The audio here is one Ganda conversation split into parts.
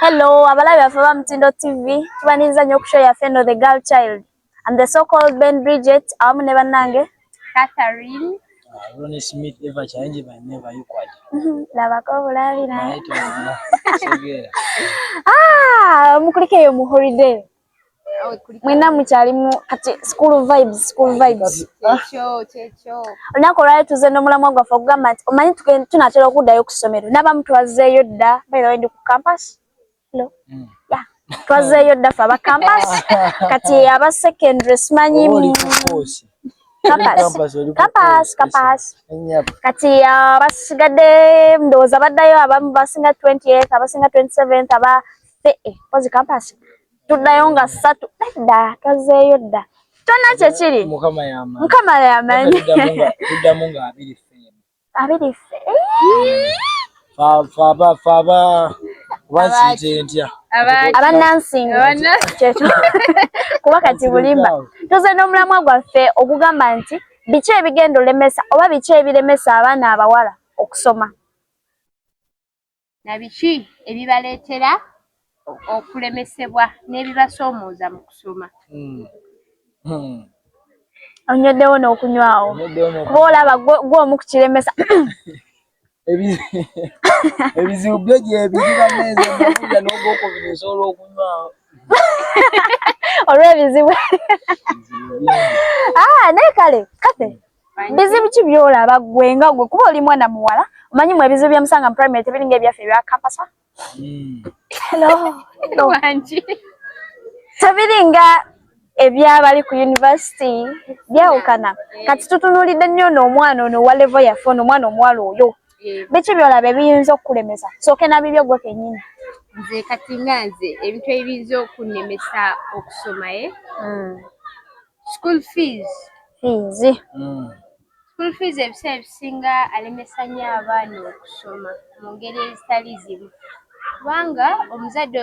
Hello, abalabi baffe ba Mutindo TV, tubaniriza nnyo ku show yaffe eno The Girl Child. I'm the so called Ben Bridget awamu ne bannange Catherine. Ah, Ronnie Smith ever change by never you quite. Mhm, labako obulabi na. Ah, mukulikeyo mu holiday. mwena mukyalimu kati school vibes school vibes olunaku olwali tuze nomulamwa gwaffe okugamba nti omanyi tunatera okuddayo ku ssomero nabamu twazeeyo dda bairawe ndi ku campas lo mm. ya twazeeyo dda fe aba campas kati aba secondary simanyi kati abasigadde ndowooza baddayo abamu basinga 28 abasinga 27 aba ffe eh, mpozi kampasi tuddayo nga ssatu dda twazeeyo dda kyonna kyekiri mukama yamanyi abiri ffe abannansinga kyekyo kuba kati bulimba tuze n'omulamwa gwaffe ogugamba nti biki ebigenda olemesa oba biki ebiremesa abaana abawala okusoma na biki ebibaleetera okulemesebwa n'ebibasoomooza mu kusoma. Hmm. Hmm. Onyweddewo n'okunywawo kuba olaba gwe omu ku kiremesa ebizibu byo gyebiri bameeza nabuuza n'ogwokubiri osobola okunywawo olw'ebizibu ah, naye kale kate bizibu ki byolaba gwe nga gwe kuba oli mwana muwala omanyi mu ebizibu bya musanga mu primary tebiringa ebyaffe ebya kapasa hmm. tebiringa ebyabali ku university byawukana kati tutunulidde nnyo ono omwana ono owa levo yaffe ono omwana omuwala oyo biki byolaba ebiyinza okukulemesa sooke nabibyo gwe kenyini nze kati nga nze ebintu ebiyinza okunemesa okusomaye eh? hmm. school fees fees mm. school fees ebiseera ebisinga alemesa nnyo abaana okusoma mu ngeri ezitali zimu kubanga omuzadde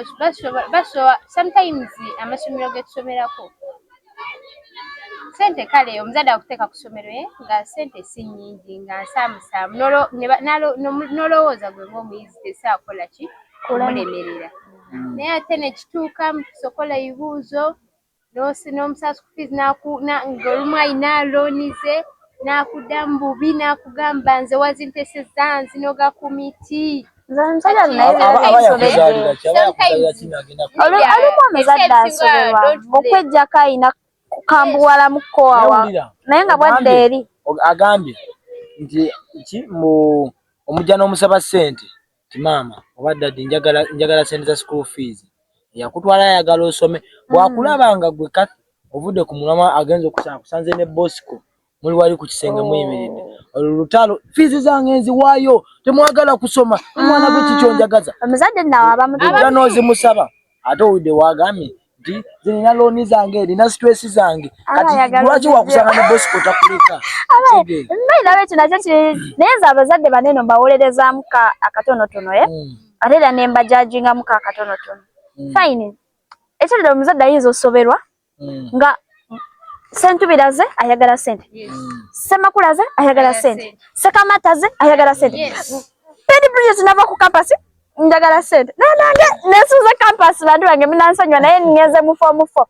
basoba sometimes amasomero getusomerako sente kale omuzadde akuteeka ku ssomero ye eh, nga sente si nnyingi nga nsaamusaamu nolowooza gwe ngaomuyizi tesaakola ki kumulemerera mm. naye ate nekituuka mukusokola ebibuuzo n'osina omusaala school fees ng'olumu alina looni ze n'akuddamu bubi n'akugamba nze wazintesezza nzino ga kumiti olumu omuzadde asoberwa okwejjako alina kukambuwalamu kowawa naye nga bwadda eri agambye nti ki mu omujja n'omusaba ssente nti maama oba daddy njagala njagala sente za school fees yakutwala ayagala osome bwakulaba nga gwe kathi ovudde ku mulama agenza okusanga kusanze ne bosco muli wali ku kisenge muyimiridde oh. olwo lutalo fees zange nziwaayo temwagala kusoma omwana gwe kikyonjagaza ah. omuzadde nawe abamutuula n'ozimusaba ate owudde wagambye nti nze nina looni zange nina situesi zange kati lwaki wakusanga ne bosiko takuleka nabe ekyo nakyo naye nze abazadde baneno mbawolerezamu ka akatonotono e eh? hmm. ate era ne mbajajingamu ka akatonotono hmm. fine ekyo lero omuzadde ayinza osoberwa hmm. nga sentubiraze ayagala sente semakulaze ayagala sente sekamataze ayagala sente pedi bridges nava ku kampasi njagala sente naye nange nesuuza campus bantu bange munansanywa naye ngenze mu fomu fo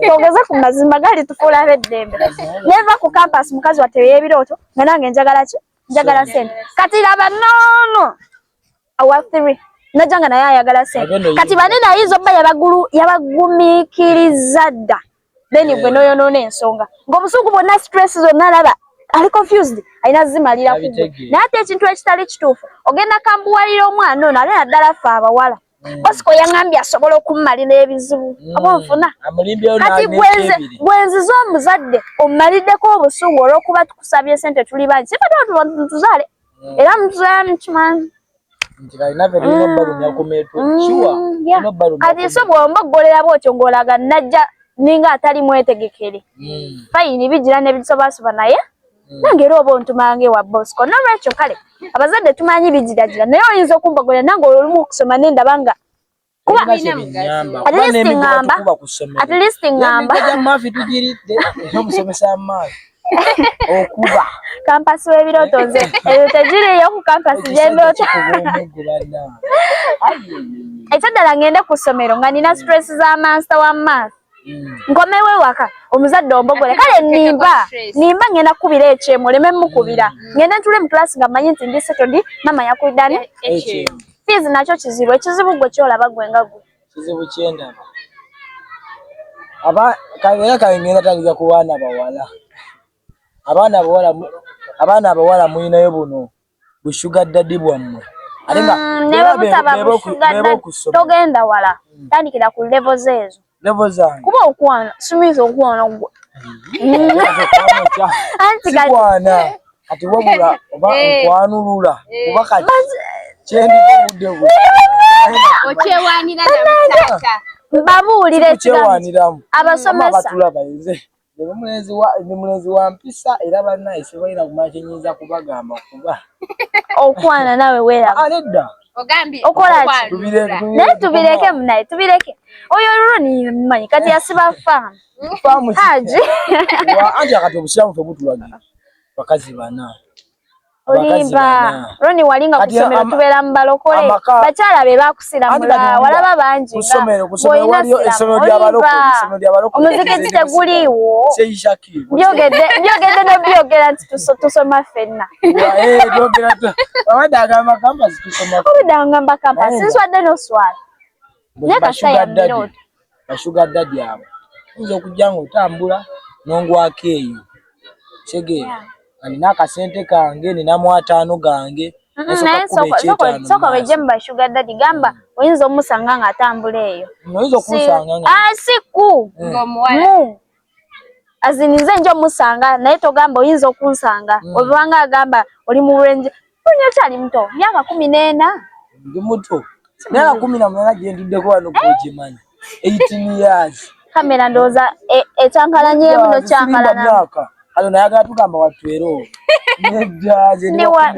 togeze ku mazima gali tufuula abeddembe neva ku campus mukazi watte eyebirooto nga nange njagala ki njagala sente kati laba noono awa three najanga naye ayagala sente kati banene ayinza obba yabagulu yabagumikiriza dda then gwe noyonoona ensonga ngaomuzungu bwonna stress zonna alaba ali confused alina zimalira ku naye ate ekintu ekitali kituufu ogenda kambuwalira omwana ono ale naddala fe abawala mm. bosiko yaŋambye asobola okumumalira ebizibu mm. aba onfuna kati gwenziza omuzadde omumaliddeko obusungu olwokuba tukusabye sente tuli bangi sifatatuzaale era muzaya mukimanyi kati so bwomba okugolera bwotyo ngolaga najja ninga atali mwetegekere hmm. fayini bigira nebisobaasoba naye hmm. nange era oba ontumanga ewa bosco nolwekyo kale abazadde tumanyi bigiragira naye oyinza okumbogolera nange olumu okusoma nendaba nga kuba okuba kampasi w'ebirooto nze eyo tegiriyo ku kampasi gyendota ekyaddala ngende ku ssomero nga nina stress za mansita wa math nkomewo ewaka omuzadde ombogole kale nimba nimba ngenda kukubira ekyemu oleme mukubira mm. ngende ntule mu class nga manyi nti ndi setodi mama yakuidani fiizi nakyo kizibu ekizibu gwe kyolaba gwe nga gwe kizibu kyendaba aba kabeera kangenda tandika ku baana bawala abaana abawala abaana abawala mulinayo buno bu sugar daddy bwammwe mm, togenda wala mm. tandikira ku levo zeezo kuba okwana simiza okwana gwe antikwana kati wabula oba eh. okwanulula eh. kuba kati kyendiuddewo okyewanira namusaaka babuulire ekiramu abasomesa ndi mulenzi wa mpisa era bannaye sibalina kumanya kye nnyinza kubagamba kuba okwana nawe weeraba ah, nedda okola naye tubireke munaye tubireke oyo olulwo nimanyi kati yasiba faamu haji anti akati obusiramu febutulagira bakazi bana olimba roni wali nga kusomero tubera mubalokole bakyala be bakusiramula walaba bangi omuzikiti teguliiwo byogedde byogedde nobyogera nti tusoma fenna obudde angamba kampasi sinswadde noswala bashuga dadi abo oyinza okujja nga otambula nongwako eyo kitegeera alina akasente kange ninamu ataano gange soko beje mu bashuga dadi gamba mm. oyinza omusanga nga atambula eyo oyinza okumusanga nga ah, si ku mm. mu azini nze nja omusanga naye togamba oyinza okunsanga mm. obanga agamba oli mu range oli okyali muto myaka kumi n'ena ndi muto myaka kumi na munaana gye ntuddeko wano kugimanyi eighteen years kamera ndowooza e, ekyankalanyeemu nokyankalana kano nayagala tugamba watwero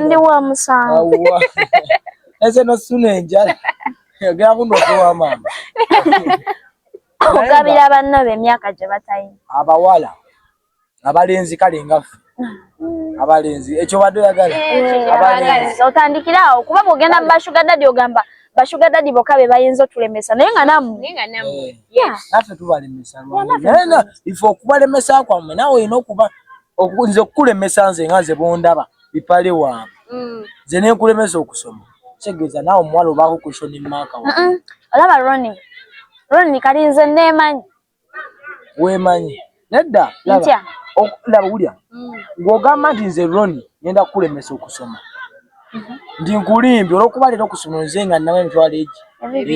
ndi wa musango ese nosuna enjala yagera kuno okuwa maama okugabira banno be emyaka gye batayina abawala abalenzi kale nga ffe abalenzi ekyo badde oyagala eh, otandikira awo kuba bwogenda mu bashuga dadi ogamba bashuga dadi boka be bayinza otulemesa naye nga nammwe eh, naffe tubalemesa ife okubalemesa kwammwe nawe olina okuba nze okukulemesa nze nga nze bondaba bipale waabwe mm. nze nenkulemeza okusoma kitegeeza naawe omuwala obaako kushoni maaka wa olaba roni roni kali nze neemanyi weemanyi nedda laba wulya mm. ng'ogamba nti nze roni ngenda kukulemesa okusoma mhm. ndi nkulimbi olwokuba leero okusoma nze nga nnamu emitwalo egi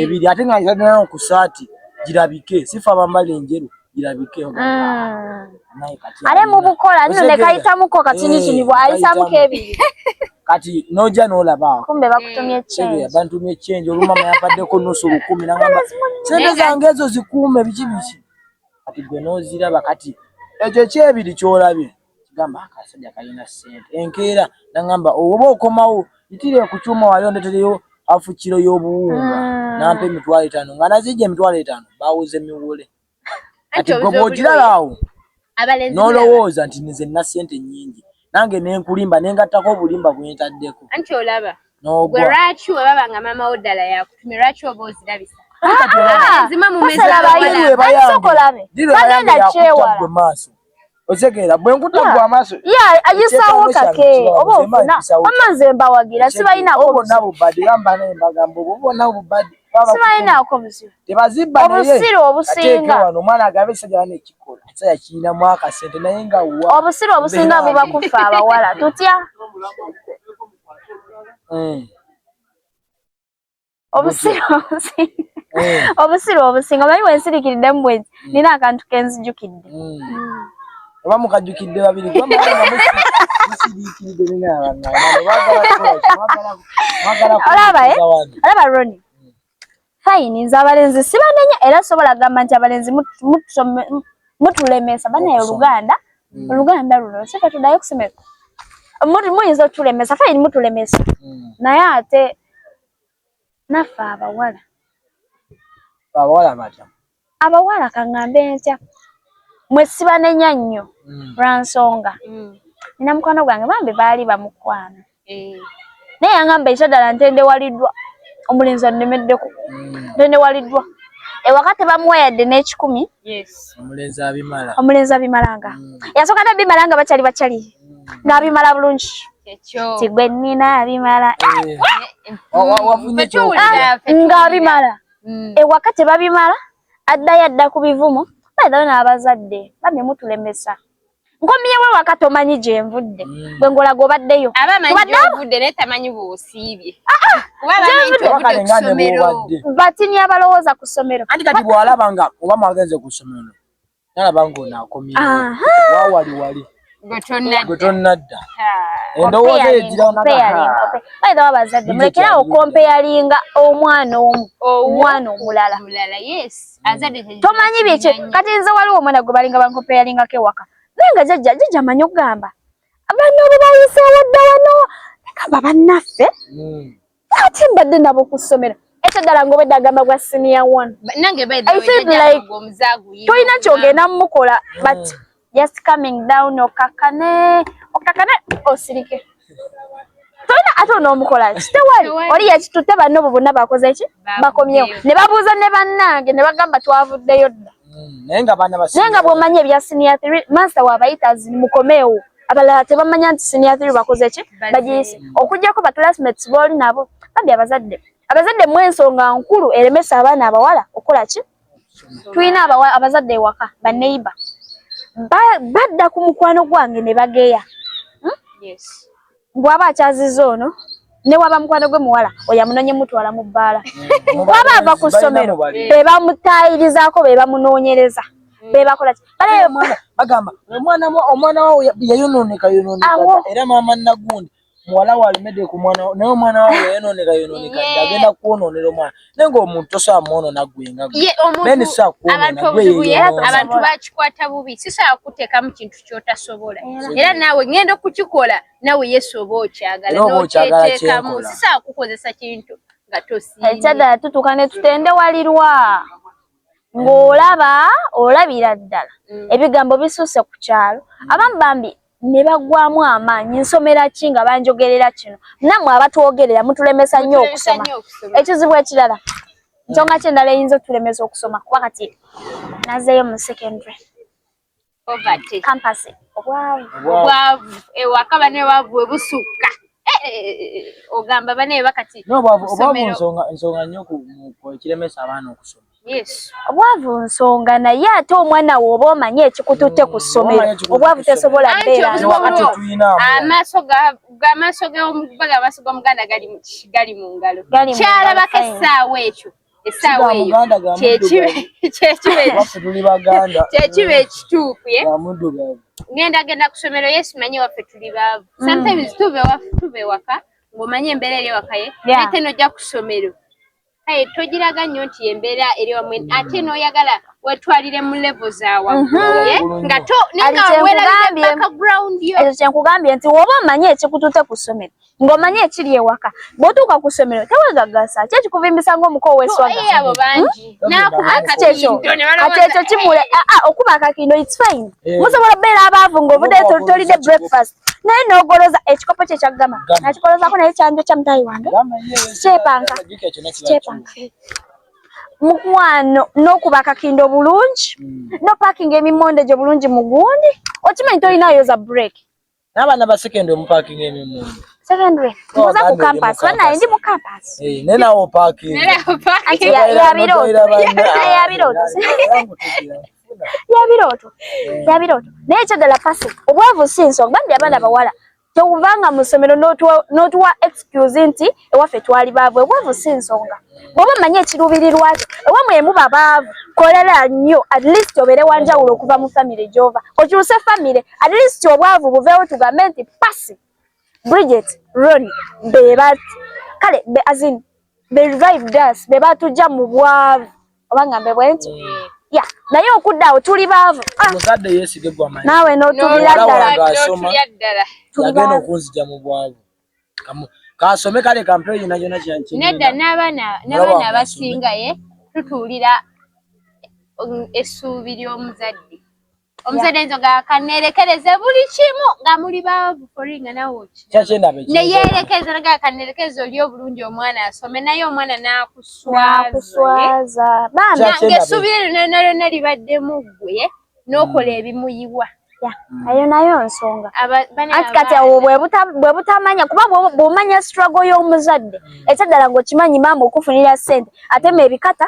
ebiri ate nga nzadana okusaati girabike sifa abambala enjeru Mm. are mubukola nino nekayitamuko kati nikinibwa eh, ayisamuko ebiri kati noja nolaba kumbe bakutumye change eh, bantumye change oluma mayapaddeko nusu lukumi nangamba sente zange ezo zikuume biki biki kati gwe noziraba kati ekyo ekyebiri kyolabye Gamba akasajja kalina ssente. Enkeera n'ang'amba oba okomawo yitira ku kyuma wali ondetereyo hafu kiro y'obuwunga mm. nampa emitwalo etaano nga nazijja emitwalo etaano bawuze miwole kati gwe bw'okiraba awo n'olowooza nti nze nna ssente nnyingi nange ne nkulimba ne ngattako obulimba bwe ntaddeko anti olaba n'ogwa lwaki bwe baba nga maama wo ddala yakutumye lwaki oba ozirabisa ah, ah, ah. zima mu mezi abayiwe bayange dira yange yakutabwe maaso otegeera bwe nkuta gwa amaaso ayisaawo kake oba ofuna wamma nze mbawagira sibalinaako bonna bubadi bamba naye mbagambo bo bonna bubadi sibalinaako buzibu tebazibba obusiru obusinga wano omwana agabe sajala nekikola saya kiina mwaka sente naye nga wa obusiru obusinga buba kuffa abawala tutya eh. obusiru obusiru eh. obusiru obusinga omanyi wensirikiridde mu bwenzi hmm. nina akantu kenzijukidde hmm. Hmm. oba mukajukidde babiri olaba roni fayini nze abalenzi sibanenya era sobola gamba nti abalenzi mutulemesa banaye oluganda oluganda luno sika tudayo kusemeka muyinza otulemesa fayini mutulemesa naye ate naffe abawala abawala batya abawala kaŋŋambe ntya mwe sibanenya nnyo mm. lwa nsonga mm. nina mukwano gwange bambi baali bamukwano eh. naye yaŋamba ekyo ddala ntendewaliddwa omulenzi annemeddeko mm. ntendewaliddwa ewaka tebamuwa yadde n'ekikumi mm. omulenzi abimala omulenzi abimalanga mm. yasooka ne bimala nga bakyali bakyali mm. n'abimala bulungi tigwe nina abimala eh. ah, ng'abimala mm. ewaka tebabimala addayo adda ku bivumo baedayo n'abazadde bambi mutulemesa nkomyewo ewaka tomanyi gyenvudde mm. gwe ngolaga obaddeyo batini abalowooza ku ssomero anti kati bwalaba nga oba mwagenze ku ssomero nalaba ngaonakomyewawali wali gwetonnadda endowooza yegirawnaedha wabazadde mulekerawo kompeyalinga omwana omu omwana omulala tomanyi byekyo kati nze waliwo omwana gwe balinga bankopeyalingako ewaka naye nga jajja jajja amanyi okugamba abaana obo bayiseewo dda wano negamba bannaffe hmm. ate mbadde nabo ku ssomero ekyo ddala ngaobedde agamba gwa siniya one tolina kyogenda mumukola but hmm. just coming down okakane okakane osirike tolina ate onoomukola ki tewali oli yekitutte banno bu bonna bakoze ki bakomyewo ne babuuza ne bannange ne bagamba twavuddeyo dda mm, naye nga bwomanyi ebya siniya thr mansita wabayita zini mukomeewo abalala tebamanya nti siniya thr bakoze ki bagiyise okugyako baclassmates booli nabo bambi abazadde abazadde mu ensonga nkulu eremesa abaana abawala okukola ki tulina abazadde ewaka baneiba badda ku mukwano gwange ne bageya hmm? bwaba akyaziza ono newaba mukwano gwe muwala oyo amunonye mutwala mu bbaala hmm. bwaba ava ku ssomero bebamutaayirizaako bebamunoonyereza hmm. bebakola bagamba omwana wawo yayononeka yononeka era maama nagundi muwala we alemedde ku mwana naye omwana wawe yayononeka yononeka dda agenda kukwononera omwana naye ng'omuntu tosobola mwonona gwenga bene sobola kuwononabantu bakikwata bubi sisobola kuteekamu kintu kyotasobola era naawe ngenda okukikola naawe yesu oba okyagala nokyetekamu sisobola kukozesa kintu nga tosiakyadala tutuuka ne tutendewalirwa ng'olaba olabira ddala mm. ebigambo bisuuse ku kyalo abamu bambi ne bagwamu amaanyi nsomera ki nga banjogerera kino namwe abatwogerera mutulemesa nnyo okusoma ekizibu ekirala nsonga ki endala eyinza otulemesa okusoma kuba kati nazeeyo mu secondary kampasi obwavu ewaka banewaavu webusukka eh, eh, eh, ogamba baneeba kati obwavu nsonga nnyo ekiremesa abaana okusoma obwavu nsonga naye ate omwana we oba omanyi ekikututte ku ssomero obwavu tesobola beeraamaaso gomuganda gali mu ngalo kyalabako essaawa ekyo essaawa eyo kyekiba ekituufu ngenda genda ku ssomero yesu manyi waffe tuli baavu mm. sometimes tuva ewaka ng'omanyi embeera eri ewakaye ate nojja ku ssomero Hey, togiraga nnyo nti embeera eri wamu ate n'oyagala wetwalire mu levo zawamuye mhm. nga to nengaweraakagrawundiyo ekyo kyenkugambye nti woba omanyi ekikutute ku ssomero ng'omanyi ekiri ewaka bw'otuuka ku ssomero tewegagasa ki ekikuvimbisa ng'omuko oweswagaabo eh, bangi hmm? nakubaati ekyo kati ekyo kimule aa ah, ah, okuba akakindo its fine eh. musobola obeera abaavu ng'obudde tolidde breakfast naye nogoloza ekikopo kye kyagama nakikolozako naye kyanjo kya mutayi wange sikyepanka sikyepanka mukwano nokuba akakindo obulungi hmm. no parking emimonde gyo bulungi mugundi okimanyi tolina yoza break nabana ba secondary mu parking emimonde secondary oh, muza ku campus bana ndi mu campus eh ne nawo parking ne nawo parking ya ya biro ya biro yabirooto eh. yabirooto naye ekyadala pasi obwavu si nsonga badde abaana eh. bawala tewuvanga mu ssomero n'otuwa excuse nti ewaffe twali baavu obwavu si nsonga bwoba omanyi ekiruubirirwakyo ewa mwe muba baavu kolera nnyo at least obeere wanjawulo okuva mu famire gyova okyuse famire at least obwavu buveewo tugambe nti pasi bridget ron bebati kale beazin they revived us be batujja mu bwavu oba ngambe bwenti mm. ya naye okudda awo tuli baavu ah. muzadde yeesige gwa manyi naawe n'otubira ddala yagenda okunzija mu bwavu kaasome kale kampeyo yona yona kyankinedda n'abaana n'abaana abasinga ye tutuulira um, essuubi ly'omuzadde omusajja nzo ga kanerekereze buli kimu nga muli baavu foringa nawe neyerekeza naga kanerekereze oli obulungi omwana asome naye omwana nakuswaza nange esuubira lyona lyona libadde mu ggwe n'okola hmm. ebimuyiwa hmm. ayo nayo nsonga anti kati awo bwe butamanya kuba bwomanya struggle y'omuzadde hmm. ekyaddala ng'okimanyi maama okufunira ssente atema ebikata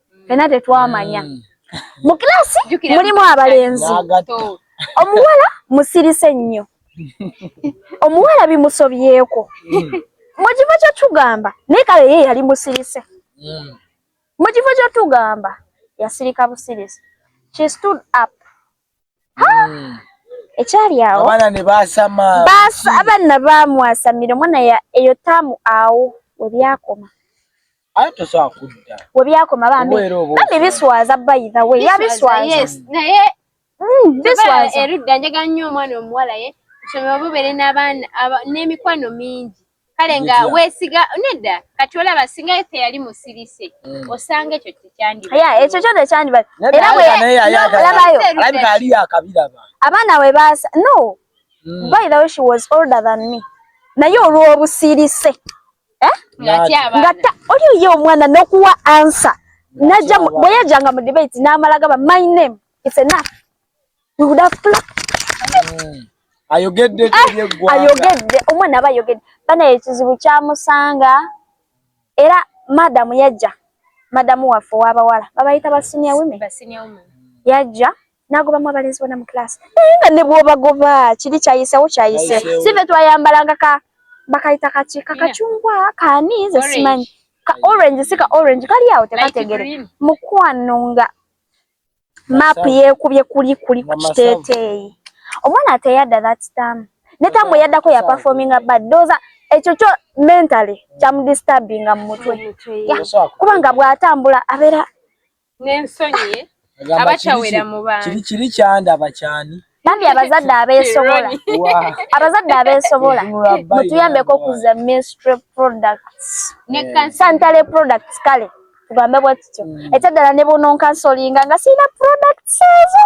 fena tetwamanya mm. mu kilasi mulimu abalenzi omuwala musirise nnyo omuwala bimusobyeko mm. mu kifo kyetugamba naye kale ye yali musirise mm. mu kifo kyetugamba yasirika busirise she stood up ekyali awo abaana ne baasama abaana baamwasamira omwana eyo taamu awo we byakoma webyakoma bambi bambi biswaza by the way yabiswaza naye mm, biswaza erudda njega nnyo omwana omuwala ye kusoma obubere n'abaana n'emikwano mingi kale nga wesiga nedda kati olaba singa efe yali musirise mm. osanga ekyo tekyandiya ekyo kyo tekyandiba era bwelabayo abaana we baasa no mm. by the way she was older than me naye olw'obusirise eh? ngata oli oye omwana nokuwa ansa naja bweyajanga mu debate namala gaba my name it's enough we would have planned mm. ayogedde ah, ayogedde omwana aba ayogedde bana ekizibu kyamusanga era madamu yajja madamu waffe wabawala babayita ba senior women yajja nagobamu abalenzi bona mu class naye nga ne bwobagoba kiri kyayisewo kyayise sive twayambalanga ka bakayita kaki kakacungwa kaani nze simanyi ka orange si ka orange kali awo tekategere mukwano nga map yekubye kuli kuli ku kiteeteeyi omwana ateyadda that time ne tamu yaddako ya performinga bad doza ekyo kyo mentally kyamudisturbinga mu mutwe kubanga bw'atambula abeera nensonyi abatawera mu bantu kiri kiri kyanda bakyani bambi abazadde abesobola abazadde abesobola mutuyambeko okuza ministry products ne santale products kale tugambe bwe tutyo mm. ekyaddala ne bunonkansolinga nga sirina products ezo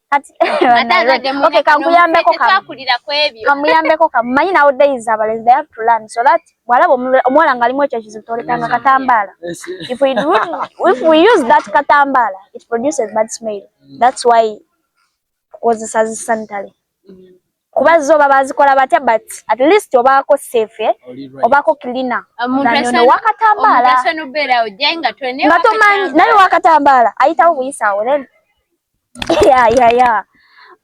kamuyambeko kamumanyi nawo days abalenzi they have to learn so that bwalaba omuwala ngalimu ekyo ekizibu tolekanga katambaala if we, do, if we use that katambaala it produces bad smell that's why tukozesa zi sanitary mm. kuba zo baba azikola batya but at least obaako safe eh? obaako cleaner nanono uh, wakatambaala nga tomanyi naye wakatambaala ayitawo buyisaawo then ya ya ya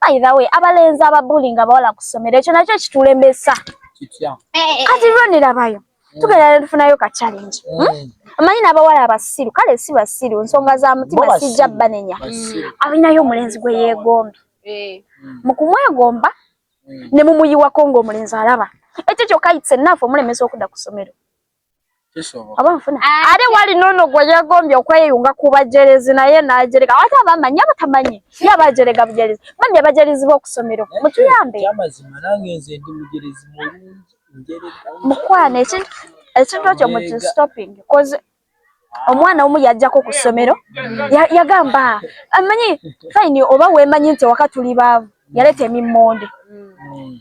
by the way abalenzi ababulinga abawala ku ssomero ekyo nakyo kitulembesa kati ronerabayo Mm. tugenda netufunayo ka challenge mm. hmm? amanyi n'abawala abasiru kale si basiru nsonga za mutima sijja banenya mm. alinayo omulenzi gwe yeegombi eh. mu kumwegomba ne mumuyiwako ng'omulenzi alaba ekyo kyokka itse naafe omulemesa okudda ku ssomero ah, ate wali nono gwe yeegombye okweyunga ku bajerezi naye najereka ate abamanyi abatamanyi ye abajerega bujerezi bambi abajerezi b'okusomero mutuyambe mukwano ekintu ekyo muki stopping bcoz omwana omu yajjako ku ssomero yagamba amanyi fine oba wemanyi nti ewaka tuli baavu yaleeta emimmonde mm.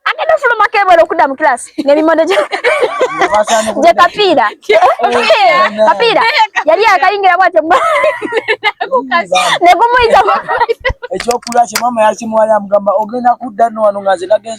agenda ofulumako ebwera okudda mu kilasi nemimmonde gye kapiira kapiira yali akayingira bwatyo negumuyita ekyokulwa kye mama yakimuwala amugamba ogenda kudda no wano nga nze nagenze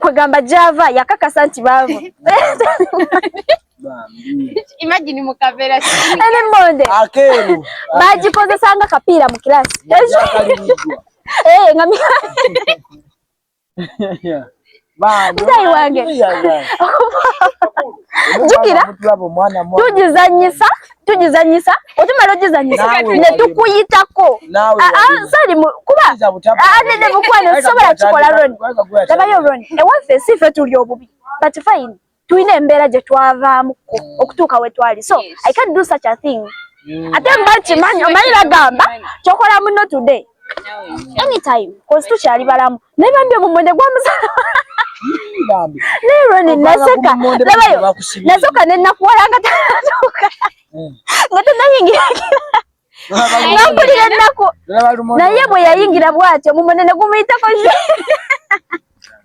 kwegamba java yakakasa nti baavu imagine mukavera ene monde akero bagikozesa nga kapiira mu kirasi eh nga mi mzai wange jukira tujizanyisa tugizanyisa otumala ogizanyisa ne tukuyitako ah, ah, sali kuba ah, nede mukwano sisobola kikola roni labayo roni ewaffe si fe tuli obubi but fine tulina embeera gye twavaamuko okutuuka we twali so i can do such a thing mm. ate mbakimanyi omanyi bagamba kyokola muno today anytime kozi tukyali balamu naye bambi omumwe ne gwamusala naye roni naseka labayo nasoka ne nakuwala nga tanatuuka eh. nga tanayingira nampulira ennaku naye bwe yayingira bwatyo omumwe ne gumuyitako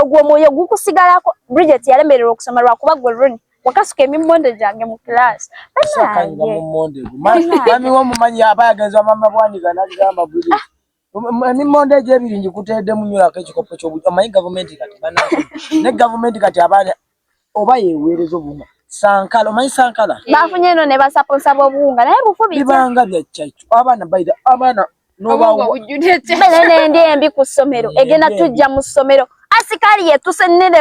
ogwo omwoyo gukusigalako bridget yalemererwa okusoma lwakuba gwe run wakasuka emimonde gyange mu class mami womumanyi aba yagenza mama bwaniga nagamba bridget ah. emimonde egyo ebiri ngikuteedemu nyolako ekikopo kyobuj omanyi gavumenti kati bana ne gavumenti kati abaana oba yeweereza obuwunga sankala omanyi sankala eh. bafunye eno ne basaponsa b'obuwunga naye bufu bibanga bya kyakyo abaana baira abaana nobawonenendi embi ku ssomero egenda tujja mu ssomero asikaali yetuse nene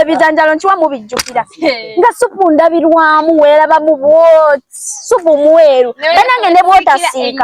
ebijanjalo nkiwa mubijjukira eh. nga supu ndabirwamu weeraba mu bwot supu mweru banange ne bwotasiika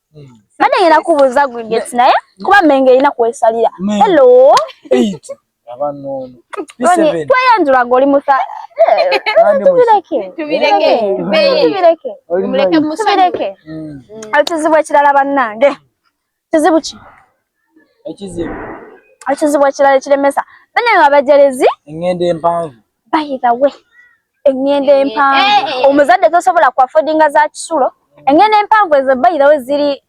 Mbadde ngenda kubuuza Gridgets naye kuba Mmengo erina kwesalira. Hello. Tweyanjula goli musa. Tubireke. Tubireke. Tubireke. Tubireke. Tubireke. Ekizibu ekirala bannange. Kizibu ki? Ekizibu. Ekizibu ekirala ekiremesa. Bannange abajerezi. Engendo empanvu. by the way engendo empanvu eh, eh, eh. omuzadde tosobola ku affordinga za kisulo engendo empanvu ezo by the way ziri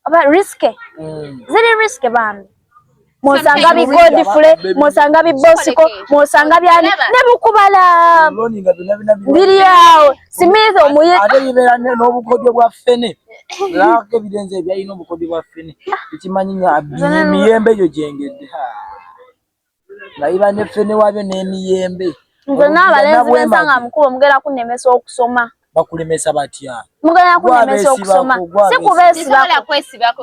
oba risk mm. ziri risk bambi mwosanga bi godfrey mwosanga bi bosiko mwosanga byani ne bukubala biri awo smith omuye ate bibera n'obukodyo bwa fene lako ebidenze ebyalina obukodyo bwa fene ekimanyi nga miyembe egyo gyengedde nga biba ne ffene wabyo n'emiyembe nze n'abalenzi bensanga mukulu omugera kunemesa okusoma bakulemesa batya mugera kunemesa okusoma si kubeesibako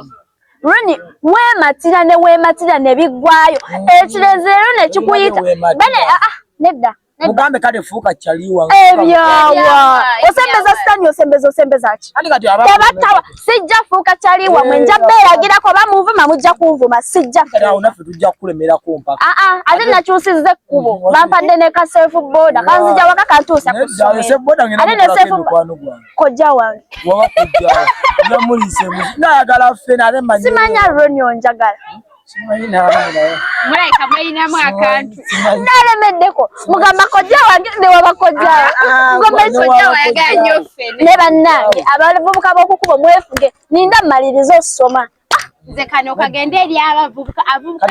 luni weematira ne weematira ne biggwayo mm. ekirezeero ne kikuyita bane ah, ah, nedda Mugambe kale fuuka chaliwa. Ebyawa. Osembeza sitani osembeza osembeza ki? Ani kati aba. Tabatawa sijja fuuka chaliwa mwe nja bela gira ko bamuvuma mujja kunvuma sijja. Kala unafe tujja kulemera ko mpaka. Ah ah ate nakyusize kubo. Mm, Bampadde ne ka self border. Kanzija waka kantusa ku. Ndio self border ngina. Ate ne self border. Koja wange. Wawa koja. Namulise. Nayagala fena ne manyi. Simanya ronyo njagala. Hmm? mulabika mulinamu akantu nalemeddeko mugamba kojja wange newaba kojjawe ah, ah, mugamba kojja wayagala nyo ffe ne bannange abavubuka b'okukubo mwefuge ninda mmaliriza osoma nze kano kagenda eri abavubuka avubuka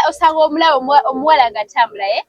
osanga omulaba omuwala nga atambulaye eh?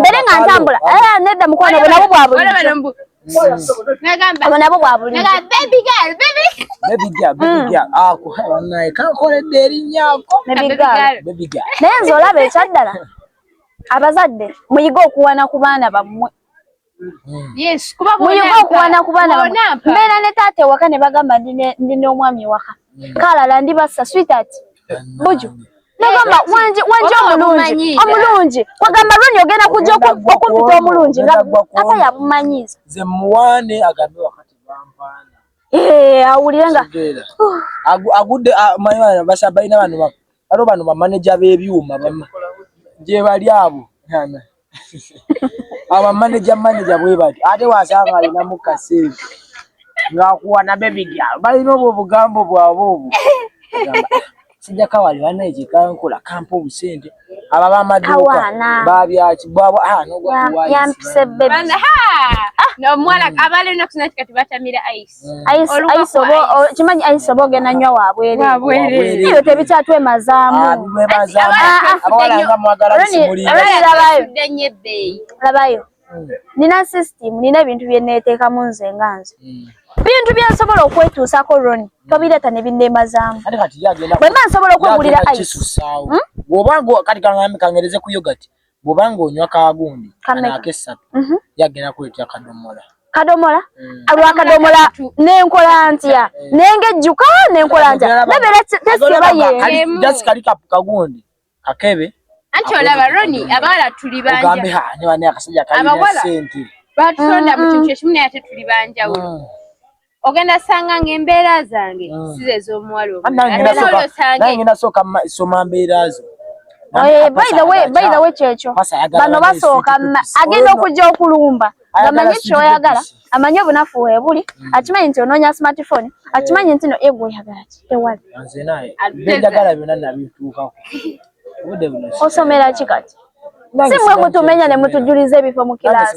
mbere nga ntambula eh, nedda mukwano bwe nabo bwa bulijjo nabo bwa bulijjo kankoledde erinnya ako naye nze olaba ekyaddala abazadde muyige okuwana ku baana bammwe Hmm. Yes, kuba bona kuwana kubana mbera ne tate waka ne bagamba ndi ne ndi no mwami waka hmm. kala la ndi basa sweetheart buju nagamba eh, wanje wanje omulungi omulungi wagamba loni ogenda kujja okumpita omulungi nga ata yabumanyiza ze muwane agambe wakati bampana eh awulire nga agudde mayo basabaina bano bano bamaneja bebyuma bama je bali abo aba manager manager bwe bati ate wasanga alina mu kasente ngakuwa na baby girl balina obwo obugambo bwabwe obwo sijja kawali bana ekikankola kampa obusente aba bamaduuka babyaki bwabwe ah, nomuwala ah! abalenakunatikati batamira ice kimanyi ayisa oba ogenda nywa wabwereebyo tebikyatwemazamulabayo nina system nina ebintu byeneteekamu nze nga nze hmm. bintu byensobola okwetuusako roni hmm. tobireeta ne binneemazaamu bwemba nsobola okwegulira ice hmm? bwoba ng'onywa kagundi anaakessatu mhm. yagenda kuletera kadomola kadomola mm. lwakadomola nenkola ntya eh. nenge jjuka nenkola ntya nebeera tesiba yesikali kagundi kakebe anti olaba roni abawala tuli banjaabawala batonda mu kintu ekimu naye ate tuli banjawulo mm. ogenda sanga nga embeera zange mm. size ez'omuwala omulalaolosangengenda sooka soma mbeera zo eh, baidawe kyekyo bano basooka agenda okujja okulumba ngamanyi kyoyagala amanyi obunafu webuli mm. akimanyi nti onoonya smartphone eh. akimanyi nti no egwe oyagala ki tewali osomera ki kati si mwe mutumenya ne mutujuliza ebifo mu kilaasi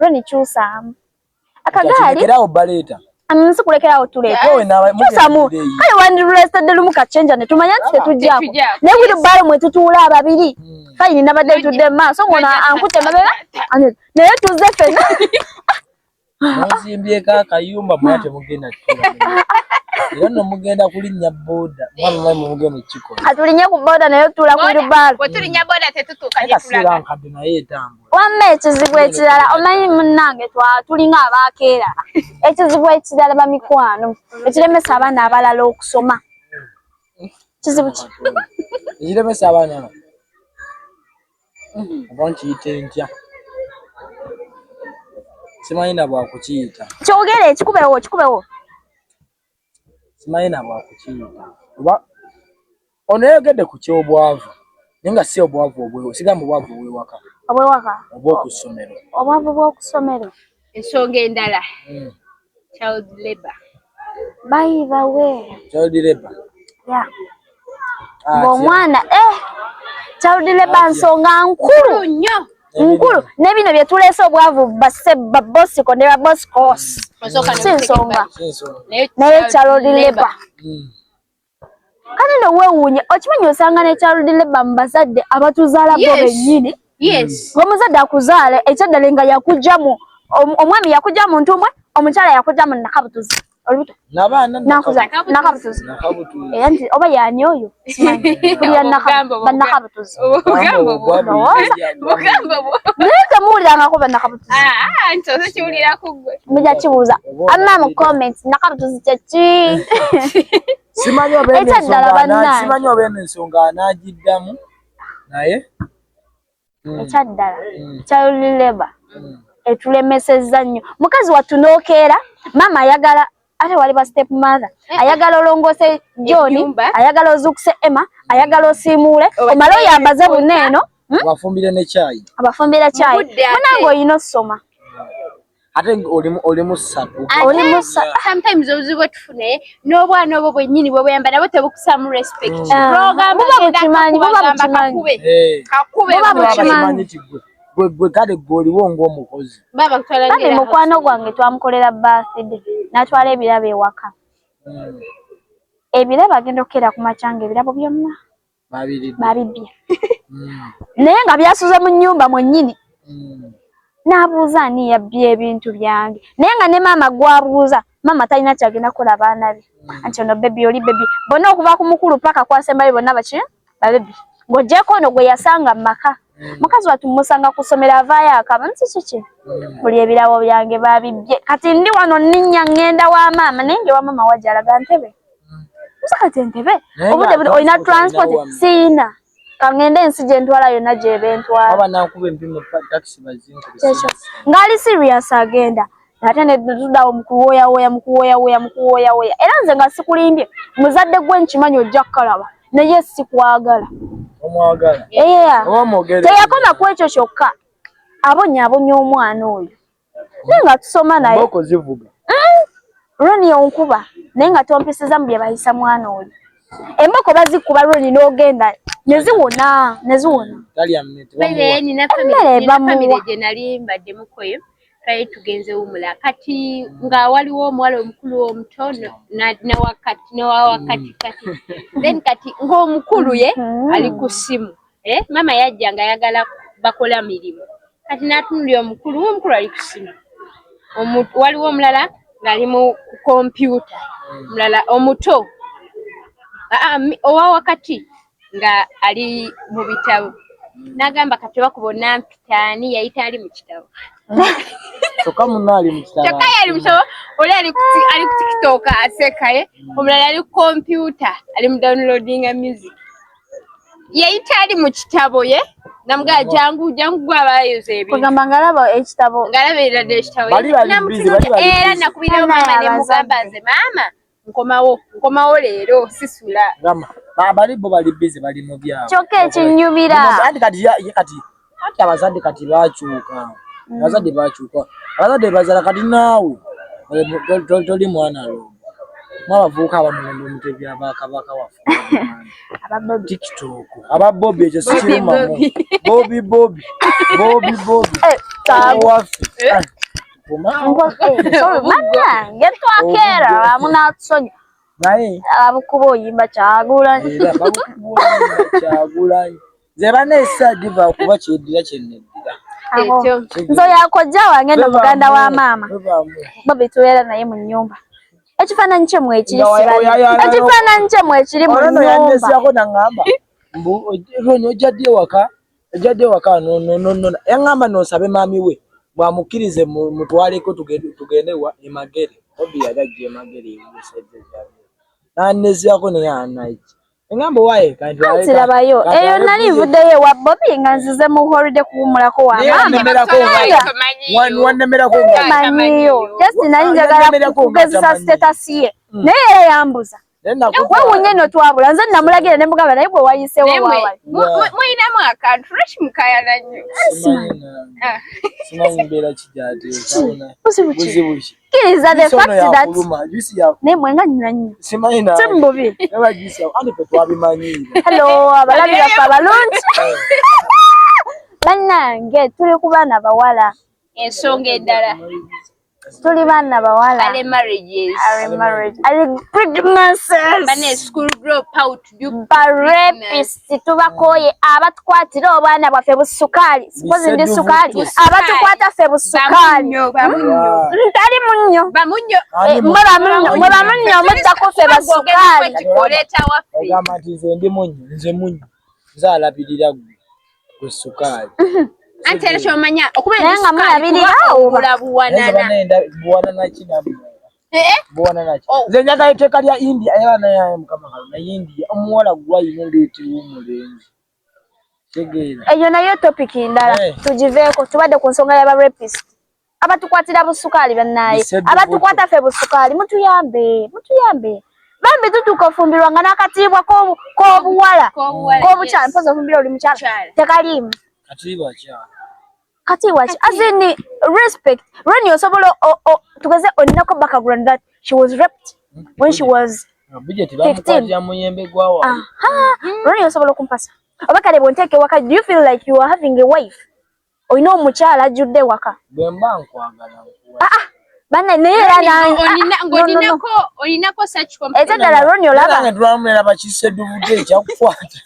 Roni kyusaamu akagaali era obaleeta amusi kulekerawo tuleeta kyusaamu kale wandirulesitadde lumu kachenja ne tumanya nti tetujjako ne buli bbaalo mwe tutuula ababiri hmm. fayini nabadde ntudde mu maaso ngono ankute mabega naye tuzze fena muzimbyeeko akayumba mwa temugenda kutula era no mugenda kulinnya boda mwamumai mumugenda ekikola atulinye ku boda naye otula ku lubaalo wetulinnya boda tetutuuka gyetulaga nkadde naye etambo wamma ekizibu ekirala omanyi munnange tulinga abaakeera ekizibu ekirala bamikwano ekiremesa abaana abalala okusoma kizibu ki ekiremesa abaana oba nkiyita entya simanyi na bwakukiyita kyogere ekikubewo kikubewo simanyi na bwa kukiyita kuba ono yayogedde ku ky'obwavu naye nga si obwavu obwewo sigamba obwavu obwewaka obwewaka obw'oku ssomero obwavu bw'oku ssomero ensonga endala hmm. child labor by the way child labor yeah ah, ng'omwana eh child labor nsonga nkulu nnyo nkulu ne bino bye tuleese obwavu babosiko ne baboscos si nsonga naye charod labor hmm. kale no weewuunya okimanyi osanga ne charod labor mu bazadde abatuzaala bo bennyini ng'omuzadde akuzaala ekyaddale nga yakugyamu omwami yakugya mu ntumbwe omukyala yakugya mu nakabutuzi olubuto nabaana nakuza nakabutuzi era nti oba yani oyo kulira banakabutuzi naye temuwulirangako banakabutuzi muja kibuuza amma mu comments nakabutuzi kyeki simanyi obeeno ensonga anagiddamu naye mm. ekyaddala mm. child labor mm. etulemesezza nnyo mukazi wattu n'okeera maama ayagala ate wali ba step mother eh. ayagala olongoose john ayagala ozuukuse emma ayagala osiimuule omale oyambaze buna eno hmm? abafumbire ne kyayi abafumbira kyayi munange olina osoma ate oli musatu oli musatu ah, sometimes obuzibu bwetufune n'obwana obwo bwennyini bwe buyamba nabo tebukusaamu respect mm. ah, bwogamba kimanyi buba bukimanyi kakube buba bukimanyi gwe kale gwe oliwo ng'omukozi kati mukwano gwange twamukolera birthday natwala ebirabo ewaka mm. ebirabo agenda okukeera ku makyanga ebirabo byonna babibbye mm. naye nga byasuze mu nyumba mwennyini mm. n'abuuza ani yabbye ebintu byange naye nga ne maama gwabuuza maama talina kyagenda kukola baana be mm. anti ono bebi oli bebi bonna okuva ku mukulu paka kwasembayo bonna baki babebi ng'ogyeko ono gwe yasanga mu maka Mm. mukazi watu musanga kusomera avaayo akaba nti kiki mm. buli ebirabo byange babibbye kati ndi wano nninya ŋŋenda wa maama naye nge wa maama wajalaga ntebe musakati entebe obudde buli olina transport siina kangende ensi gyentwala yonna gyebentwala ngaali serious agenda ate netudawo mukuwoyawoya mukuwoyawoya mukuwoyawoya era nze nga sikulimbye muzadde gwe nkimanyi ojja kukalaba naye sikwagala teyakoma ku ekyo kyokka abonyabonya omwana oyo naye nga tusoma naye mboko zivuga mm. roni onkuba naye nga tompisiza mu byebayisa mwana oli emboko bazikuba roni nogenda neziwona neziwona twali tugenze wumula kati nga waliwo omuwala omukulu omuto nawakati nawawakati kati then kati ngaomukulu ye mm-hmm. ali ku simu Eh, mama yajja nga yagala bakola mirimu kati natunulira omukulu omukulu ali kusimu waliwo omulala ngaali mu kompyuta mulala omuto owa wakati nga ali mu bitabo nagamba kati bakuba onampitaani yayita ali mu kitabo kyokka munna ali mu kitabo kyokka yali mu kitabo oli ali ku tikitoka asekaye omulala ali ku kompyuta ali mu downloadinga music yeyita ali mu kitabo ye namuga jangu jangu gwe abayoza ebintu kugamba ngalaba ekitabo ngalaba erade ekitabo era nakubirawo mama ne mugamba nze mama nkomawo nkomawo leero sisula bali bo bali bize bali mu byabo kyokka ekinyumira kati kati anti abazadde kati bakyuka mm. abazadde bakyuka abazadde bazala kati naawe toli mwana lo mwabavuuka abamulonda omutebi abakabaka wafe tiktok ababobi ekyo sikirumamu bobi bobi bobi bobi eh, owaffe eh. eh, banange twakera bamunatusonyi naye abakuba oyimba kyagulanyi kyagulanyi nze bana esadiva kuba kyeddira kyeneddira nze yakojja wange no muganda wa maama bobi tubeera naye mu nyumba ekifaananyi kye mwekiri ekifaananyi kye mwekiri mu nyumba mbu ojja ddi ewaka Ejjadde waka no no no no. Yangamba no sabe mami we. Bwa mukirize mutwale ko tugende tugende wa emagere. Obi yagajje emagere yesete jabi. Na nezi yako ne ya night. Yangamba wae kanti wae. Kanti labayo. Eyo nali vude ye wa Bobby nga nzize mu holiday kuwumula ko wa mama. Nemera ko wae. Wan wan nemera ko wae. Manyiyo. Just nali njagala kugezisa status ye. Mm. Naye yambuza. wewunye no twabula nze namulagira ne mugamba naye gwe wayisewo wawali muyinamu akantu lwaki mukayana nnyo kiriza the fact that naye mwe nga nyina nnyo si mububi hello abalabi baffe abalungi bannange tuli ku baana bawala ensonga endala tuli baana bawala are marriages are marriage are good masses bane school grow out you barepist tubakoye abatukwatira obwana bwafe busukali sipozi ndi sukali abatukwata fe busukali ntali munyo bamunyo eh, mwe bamunyo mwe bamunyo mutta kufe basukali ogamba nti nze ndi munyo nze munyo nze alabirira gwe gwe sukaali anti era kyomanya okuba naye nga mulabiriraobula buwanana buwanana kinamu eh, eh. oh. nze njagala etteeka lya india era naye mukama kalo naye india omuwala gwayina endeetera omulenzi eyo nayo topic ndala eh. tugiveeko tubadde ku nsonga yaba rapist abatukwatira busukaali bannaaye abatukwata ffe busukaali mutuyambe mutuyambe bambi tutuuka ofumbirwa nga n'akatiibwa k'obuwala k'obukyala mpozi ofumbira oli mukyala tekaliimu katiibwa ki asini respect reni osobola tugeze olinako background that she was raped when she was reni osobola okumpasa oba kale bwonteeka ewaka do you feel like you are having a wife olina omukyala ajjudde ewaka bwemba nkwagala ah, ah. bana naye era nangeolinako ete ddala roni olabatwamulaba kiseduvude ekyakukwata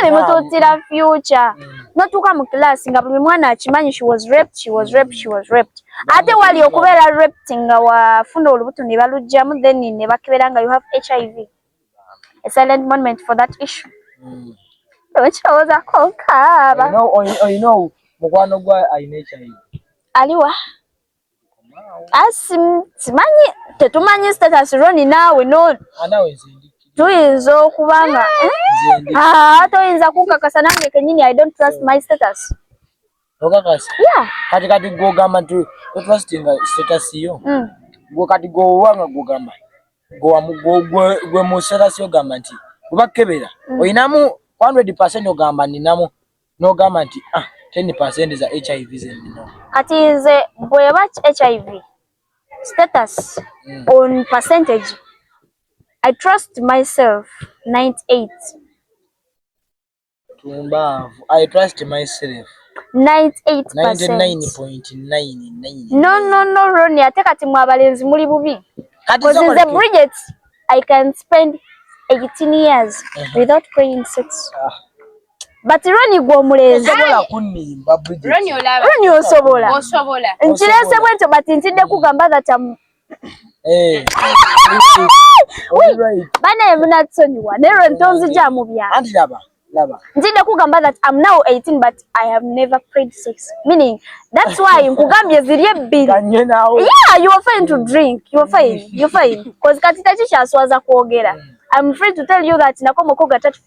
nemutuutira future notuuka mu kilaasi nga buli mwana akimanyi she was raped she was raped she was raped ate wali okubeera raped nga wafuna olubuto ne balugjamu then ne bakebera nga you have hiv a silent moment for that issue mm. okirowooza konkaaba olina mukwano gwa alina ekyayi aliwa asi ah, simanyi tetumanyi status roni naawe no anawe ah, nzindi tuyinza okuba nga eh? ah, toyinza kunkakasa nange kenyini i don't trust my status okakasa kati kati gwogamba nti totwasitinga sitatasiyo mm. gwe kati gwowanga gwogamba gwe mu sitatasiyo ogamba nti kuba kukebera mm. olinamu 100 percent ogamba ninamu nogamba nti ah, 10 percent za hiv zenina kati nze bweba hiv status mm. on percentage i trust myself 98 Tumbaavu. I trust myself. 98.99. No, no, no, Ronnie. Ate kati mwa balenzi muli bubi. Because in the Bridget, I can spend 18 years uh -huh. without paying sex. Ah. But Ronnie gwo mulenzi. Osobola kunimba Bridget. Ronnie olaba. Ronnie osobola. Osobola. Nchilese bwento but ntinde kugamba that I'm Eh. Bana yamuna tusonyiwa nero ntonzi eh. ja mubya. Anti laba laba. Nzide kugamba that I'm now 18 but I have never prayed sex. Meaning that's why nkugambye ziri ebbiri. Yeah, you are fine to mm. drink. You are fine. You are fine. Cause katita chisha aswaza kuogera. Mm. I'm free to tell you that nakoma koga tatu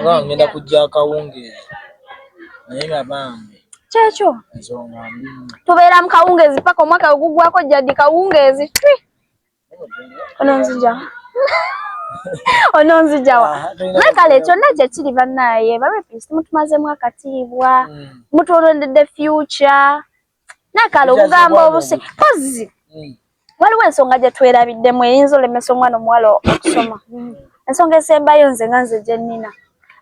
Nga ngenda kujja akawungeezi naye nga bambi kyekyo ensonga mbi tubeera mu kawungeezi paka omwaka we guggwako jjadi kawungeezi twi ono nzija ononzijawa naye ah, kale kyonna kyekiri bannaaye barepist mutumazeemu akatiibwa mm. mutwolondedde future nakala okugamba obuse pozi hmm. waliwo ensonga gye twerabiddemu eyinza olemesa omwana omuwala okusoma hmm. ensonga esembayo nze nga nze gye nnina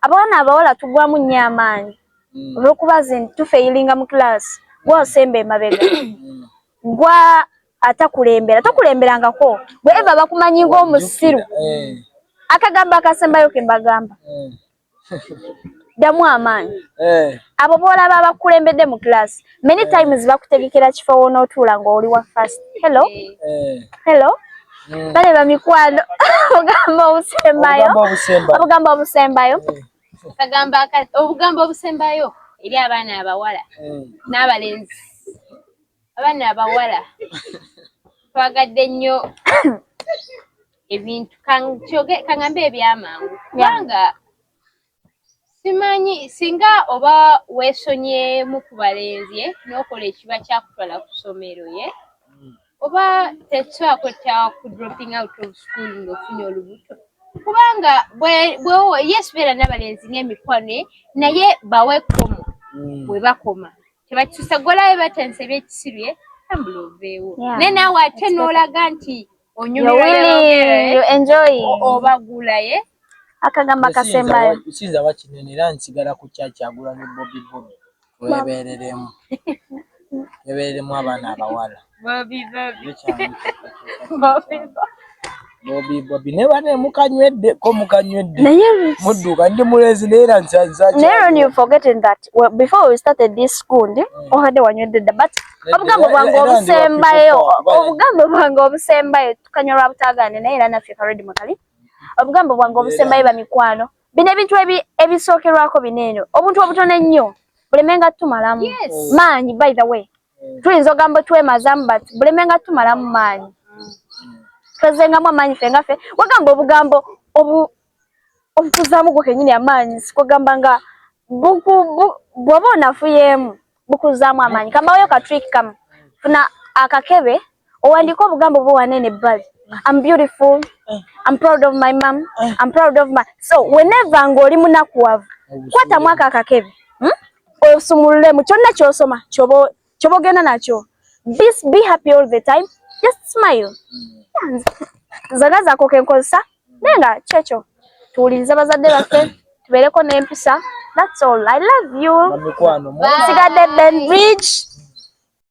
abawana abawala tugwamu nnyo amaanyi hmm. olwokuba zi tufeyilinga mu kilaasi gwa osemba emabega gwa atakulembera tokulemberangako bweva bakumanyi ngaomusiru eh. akagambo akasembayo kembagamba ddamu amaanyi eh. abo boolaba abakulembedde mu class many eh. times bakutegekera kifo wonootuula ng'oli wa fast hello eh. hello mm. bale bamikwano ogamba obusembayo obugamba obusembayo kagamba obugamba obusembayo eri abaana abawala n'abalenzi abaana abawala twagadde nnyo ebintu kyoge kangambe ebyamangu kubanga simanyi singa oba wesonyemu ku balenzi eh, n'okola ekiba kyakutwala ku ssomero ye eh, hmm. oba tekisobola kwetta ku dropping out of school ng'ofunye olubuto kubanga bwewo yes beera n'abalenzi n'emikwano eh, naye bawe komo hmm. bwe bakoma tebakisusa gwolabe batensa ebyekisiru ye tambula oveewo naye naawe ate n'olaga nti obagulaye akagamba kasembayo nsinza wakinene era nsigala ku kyakyagula ne bobi bobi webereremu ebereremu abaana abawala bobi bobi ne bane mukanywedde ko mukanywedde mudduka ndi mulezi naye era nsanzaki naye you forgetting that before we started this school ndi mm. obadde wanywedde dda but mm. obugambo bwange obusembayo obugambo bwange obusembayo tukanyolwa butagane naye era naffe karedi mukali obugambo bwange obusembayo bamikwano bino ebintu ebisookerwako bino eno obuntu obutono ennyo bulemenga tumalamu maanyi by the way mm. tuyinza ogambo twemazamu but bulemenga tumalamu maanyi mm. twezengamu amaanyi ffe nga ffe wagamba obugambo obutuzaamu gwo kenyini amaanyi sikugamba nga bwoba onafuyeemu bukuzaamu amaanyi kambaweyo ka trick kamu funa akakebe owandiika obugambo bwo wanene ebbali am beautiful am proud of my mom am proud of my so whenever ng'oli munakuwavu kwatamu ako akakebe hmm? osumululemu kyonna kyosoma kyoba chobogenda nacho this be happy all the time just smile zana zako kenkozesa nenga checho tuwulirize bazadde baffe tubeereko n'empisa that's all i love you sigadde ben bridge